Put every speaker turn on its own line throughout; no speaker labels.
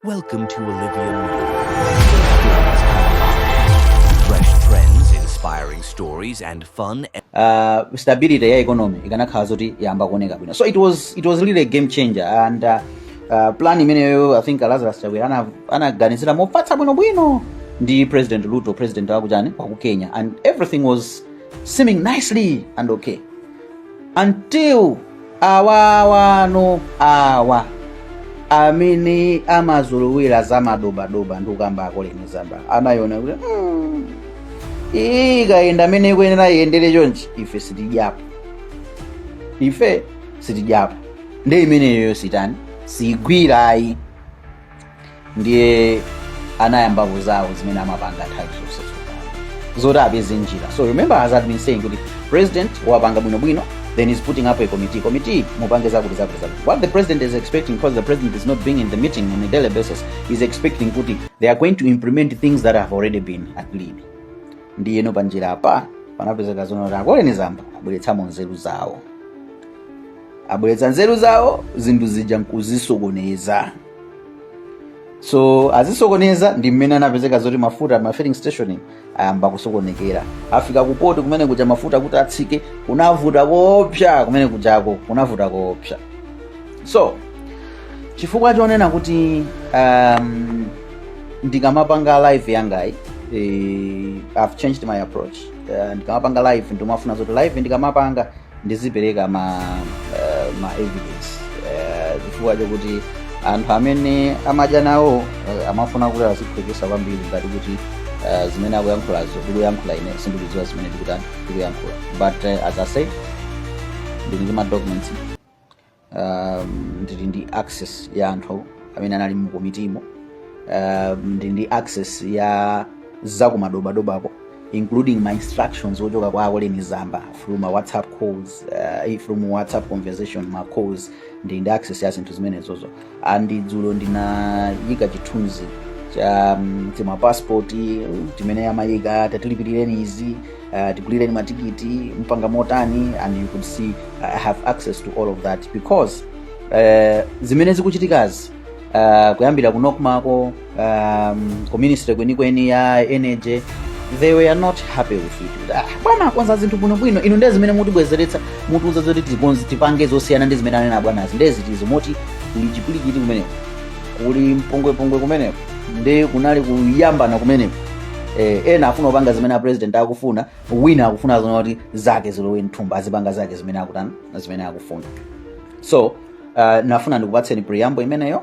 Welcome to Olivia Fresh trends, inspiring stories, and fun. uh, stability
ya economy ikanakhala zoti yamba kuoneka bwino so it was, it was really a game changer and uh, uh, plan imeneyo i think lazarus chakwera ana- anaganizira mofatsa bwinobwino ndi president ruto president wakuchani waku kenya and everything was seeming nicely and okay anthu awawanu awa amene amazolowera za madobadoba ndikukamba a Colleen Zamba anayona kuti mm, iyi ikayenda mmene ikuyenera iyendere chonchi ife sitidyapo ife sitidyapo ndi imeneyoyo sitani sigwira ayi ndiye anayambapo zawo zimene amapanga nthawi zonse tsopano zoti apeze njira so remember as I've been saying kuti president wapanga bwinobwino then he's putting up a committee committee mupange zakuti zakuti zakuti what the president is expecting because the president is not being in the meeting on a daily basis he's expecting kuti they are going to implement things that have already been agreed ndiyeno panjira apa panapezeka zonoti a Colleen Zamba abweretsamo nzeru zawo abweretsa nzeru zawo zinthu zija nkuzisokoneza so azisokoneza ndi mmene anapezeka zoti mafuta ma filling station ayamba kusokonekera afika kupoti kumene kuja mafuta kuti atsike kunavuta koopsa kumene kujako kunavuta koopsa so chifukwa chonena kuti um, ndikamapanga live yangayi eh, i've changed my approach uh, ndikamapanga live ndimafuna zoti live ndikamapanga ndizipereka ma, eh, ma evidence eh, chifukwa chokuti anthu amene amadya nawo eh, amafuna kuti aziphweketsa kwambiri ngati kuti eh, zimene akuyankhulazo ndikuyankhula ine sindikudziwa zimene ndikuta- ndikuyankhula but eh, as i said ndili ndi ma documents um, ndili ndi access ya anthu amene anali mu komitimo um, ndili ndi access ya zakumadobadobako including ma instructions ochoka kwa a Colleen Zamba through ma whatsapp calls uh, from whatsapp conversation ma calls ndili ndi access ya zinthu zimenezozo and dzulo ndinayika chithunzi cha mm, tima passport mm, timene amayika tatilipirireni izi uh, tigulireni matikiti mpanga motani and you could see uh, i have access to all of that because uh, zimene zikuchitikazi uh, kuyambira ku NOCMAko um, ku ministry kwenikweni ya energy they were not happy with it ah, bwana akonza zinthu bwinobwino inu ndiye zimene mutibwezeretsa mutiuza zoti tikonzi tipange zosiyana ndi zimene anena abwanazi ndiye zitizo moti kuli chipilikiti kumeneko kuli mpongwepongwe kumeneko ndi kunali kuyambana kumeneko eh, ena afuna kupanga zimene a president akufuna wina akufuna zonena kuti zake zilowe mthumba azipanga zake zimene akutana zimene akufuna so uh, nafuna ndikupatseni preamble imeneyo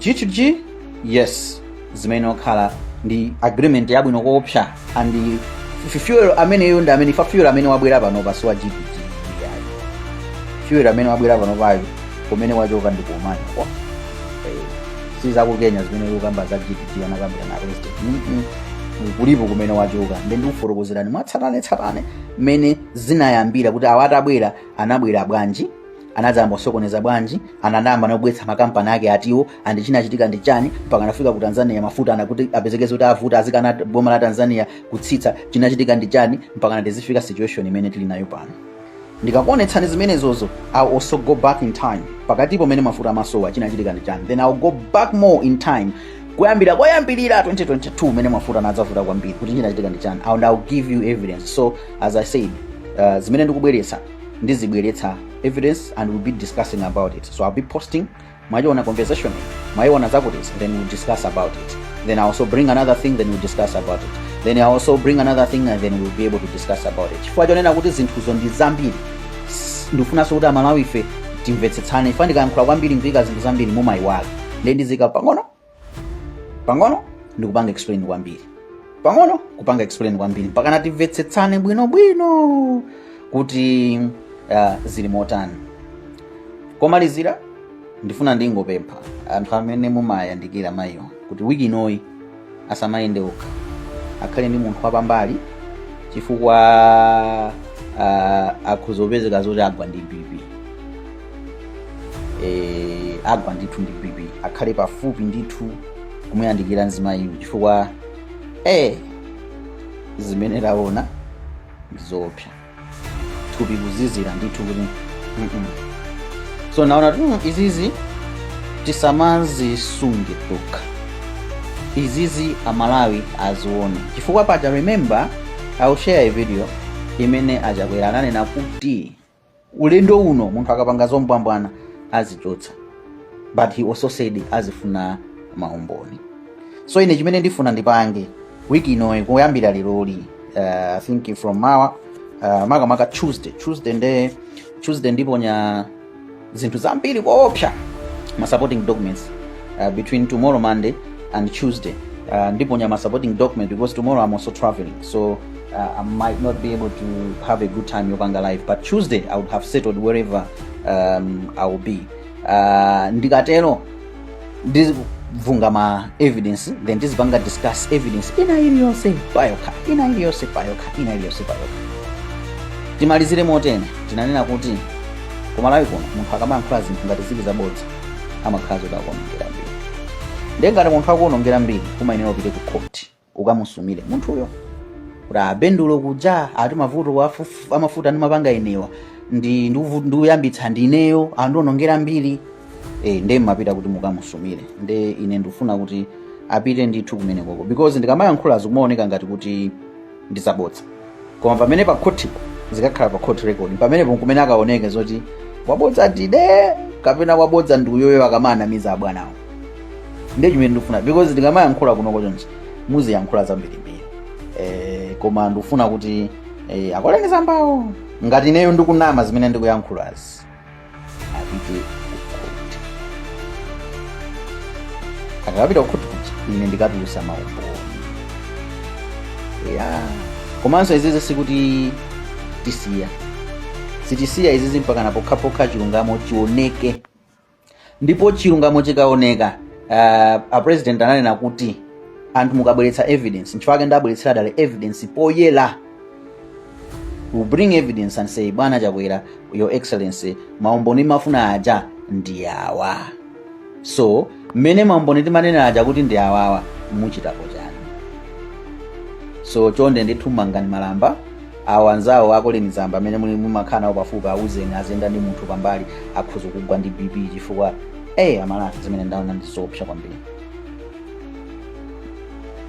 G2G yes zimene okhala ndi agreement yabwino koopsa and f- fuel ameneyo ndi amene fa fuel amene wabwera panopa si wa G2G ayi fuel amene wabwera panopayo kumene wachoka ndi kumayo kwa Eh, si za ku kenya zimene mukamba za G2G anakambira na real estate Mm, mm. kulipo kumene wachoka nde ndikufotokozerani mwatsatanetsatane mmene zinayambira kuti awa atabwera anabwera bwanji anadzayamba kusokoneza bwanji anadzayamba kubweretsa makampani ake atiwo andi chinachitika ndi chani mpaka anafika ku tanzania mafuta anakuti apezekeze kuti avuta azikana boma la tanzania kutsitsa chinachitika ndi chani mpaka natizifika situation imene tili nayo pano ndikakuonetsani zimenezozo I'll also go back in time pakatipo mmene mafuta amasowa chinachitika ndi chani then I'll go back more in time kuyambira koyambirira 2022 mmene mafuta anadzavuta kwambiri kuti chinachitika ndi chani and I'll give you evidence so as i said uh, zimene ndikubweretsa ndizibweretsa evidence and we'll be discussing about it so i'll be posting mwayiona conversation mwayiona zakuti then we'll discuss about it then i also bring another thing then we'll discuss about it then i also bring another thing and then we'll be able to discuss about it chifukwa chonena kuti zinthuzo ndi zambiri s- ndikufunanso kuti aMalawife timvetsetsane chifukwa ndikayankhula kwambiri ndikuika zinthu zambiri mumayiwala nde ndiziika pang'ono pang'ono ndikupanga explain kwambiri pang'ono kupanga explain kwambiri mpaka natimvetsetsane bwinobwino kuti uh, zili motani komalizira ndifuna ndingopempha anthu amene mumayandikira mayiwa kuti wiki inoyi asamayende okha akhale ndi munthu wapambali chifukwa uh, akhoza kupezeka zoti agwa ndi bp eh, agwa ndithu ndi bp akhale pafupi ndithu kumuyandikira mzimayiyo chifukwa eh, zimene taona ndizoopsa thupi kuzizira ndithu kuti mm-mm. so naona kuti mm, izizi tisamazisunge tokha izizi aMalawi azione chifukwa paja remember I'll share a video imene a Chakwera ananena kuti ulendo uno munthu akapanga zombwambwana azichotsa but he also said azifuna maumboni so ine chimene ndifuna ndipange wiki inoyi kuyambira leroli uh, i think from mawa uh, makamaka tuesday tuesday nde tuesday ndiponya zinthu zambiri koopsa ma supporting documents uh, between tomorrow monday and tuesday uh, ndiponya ma supporting document because tomorrow i'm also traveling so uh, i might not be able to have a good time yopanga live but tuesday i would have settled wherever um, i will be uh, ndikatero ndizibvunga ma evidence then tizipanga discuss evidence ina iliyonse payokha ina iliyonse payokha ina iliyonse payokha timalizire motene tinanena kuti ku Malawi kuno munthu akamayankhula zinthu ngati zili zabodza amakhala zoti akuonongera mbiri ndiye ngati munthu akuonongera mbiri kumayenera upite ku khoti ukamusumire munthuyo kuti a bendulo kuja ati mavuto wafu- amafuta ndimapanga inewa ndi ndiuvu- ndiuyambitsa ndineyo andionongera mbiri e, nde mumapita kuti mukamusumire nde ine ndifuna kuti apite ndithu kumenekoko because ndikamayankhula zikumaoneka ngati kuti ndizabodza koma pamene pa khothipo zikakakhala pa court record pamenepo nkumene akaoneke zoti wabodza ndine kapena wabodza ndi uyoyo akamanamiza abwanawo ndiye chimene ndikufuna because ndikamayankhula kunoko chonchi, muziyankhula zambirimbiri eh, koma ndikufuna kuti eh, a koleni zambawo ngati ineyo ndikunama zimene ndikuyankhulazi apite kukhoti akapita kukhoti kuja ine ndikatulusa maumboni ya komanso izizi sikuti tisiya sitisiya izizi mpakana pokhapokha chilungamo chioneke ndipo chilungamo chikaoneka uh, a president ananena kuti anthu mukabweretsa evidence nchifukwa chake ndabweretsera dale evidence poyera we bring evidence and say bwana chakwera your excellency maumboni mafuna aja ndi awa so mmene maumboni timanena aja kuti ndi awawa muchitapo chani so chonde ndithu mangani malamba awo anzawo a koleni zamba amene mumakhala nawo pafupi auzeni aziyenda ndi munthu pambali akhoza kugwa ndi bp chifukwa eh amalawi zimene ndaona ndi zoopsa kwambiri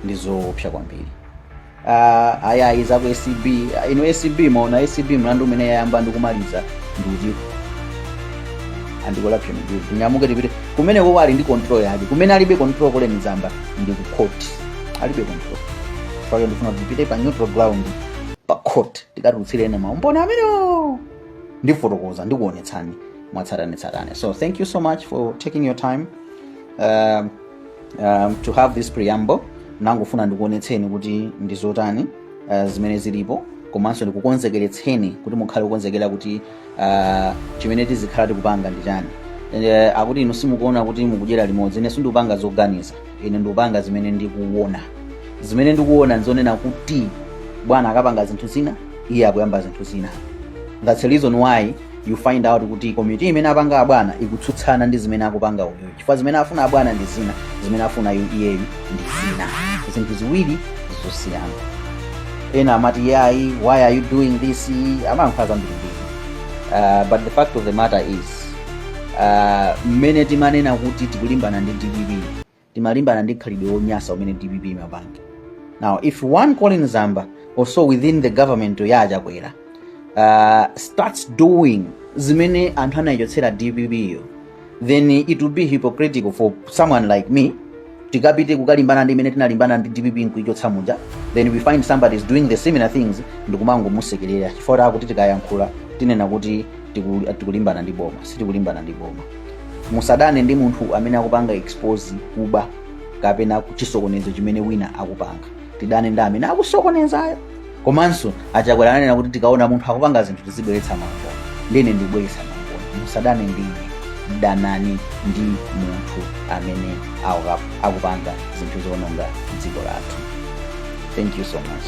ndi zoopsa kwambiri Ah, ayayi za ku acb Ah, inu acb munaona acb mlandu umene yayamba ndi kumaliza ndiuti umene yakolapsa ndi uti tinyamuke tipite kumene koko ali ndi control yake kumene alibe control koleni zamba ndi ku court alibe control yake ndifuna kuti tipite pa neutral ground pa court tikatulutsirane maumboni amene ndifotokoza ndikuonetsani mwatsatanetsatane so thank you so much for taking your time um, um, to have this preamble nangofuna ndikuonetseni kuti ndizotani uh, zimene zilipo komanso ndikukonzekeretseni kuti mukhale kukonzekera kuti uh, chimene tizikhala tikupanga ndi chani uh, akuti inu simukuona kuti mukudyera limodzi ine sindikupanga zoganiza ine ndikupanga zimene ndikuona zimene ndikuona nzonena kuti bwana akapanga zinthu zina iye akuyamba zinthu zina that's the reason why you find out kuti komiti imene apanga abwana ikutsutsana ndi zimene akupanga uyoyo chifukwa zimene afuna abwana ndi zina zimene afuna yu- iyeyu ndi zina zinthu ziwiri zosiyana ena amati yayi why are you doing this amayankhula zambirimbiri uh, but the fact of the matter is uh, mmene timanena kuti tikulimbana ndi dpp timalimbana ndi khalidwe wonyasa umene dpp imapanga now if one colleen zamba also within the government ya achakwera uh, starts doing zimene anthu anayichotsera dpp yo then it will be hypocritical for someone like me tikapite kukalimbana ndi imene tinalimbana ndi dpp nkuichotsa muja then we find somebody is doing the similar things ndikumangomusekerera chifukwa ta kuti tikayankhula tinenedwa kuti tiku- tikulimbana ndi boma sitikulimbana ndi boma musadane ndi munthu amene akupanga expose kuba kapena chisokonezo chimene wina akupanga tidane ndi amene akusokonezayo komanso achakwera ananena kuti tikaona munthu akupanga zinthu tizibweretsa maumboni ndine ndikubweretsa maumboni musadane ndine danani ndi munthu amene aku- akupanga zinthu zoononga dziko lathu thank you so much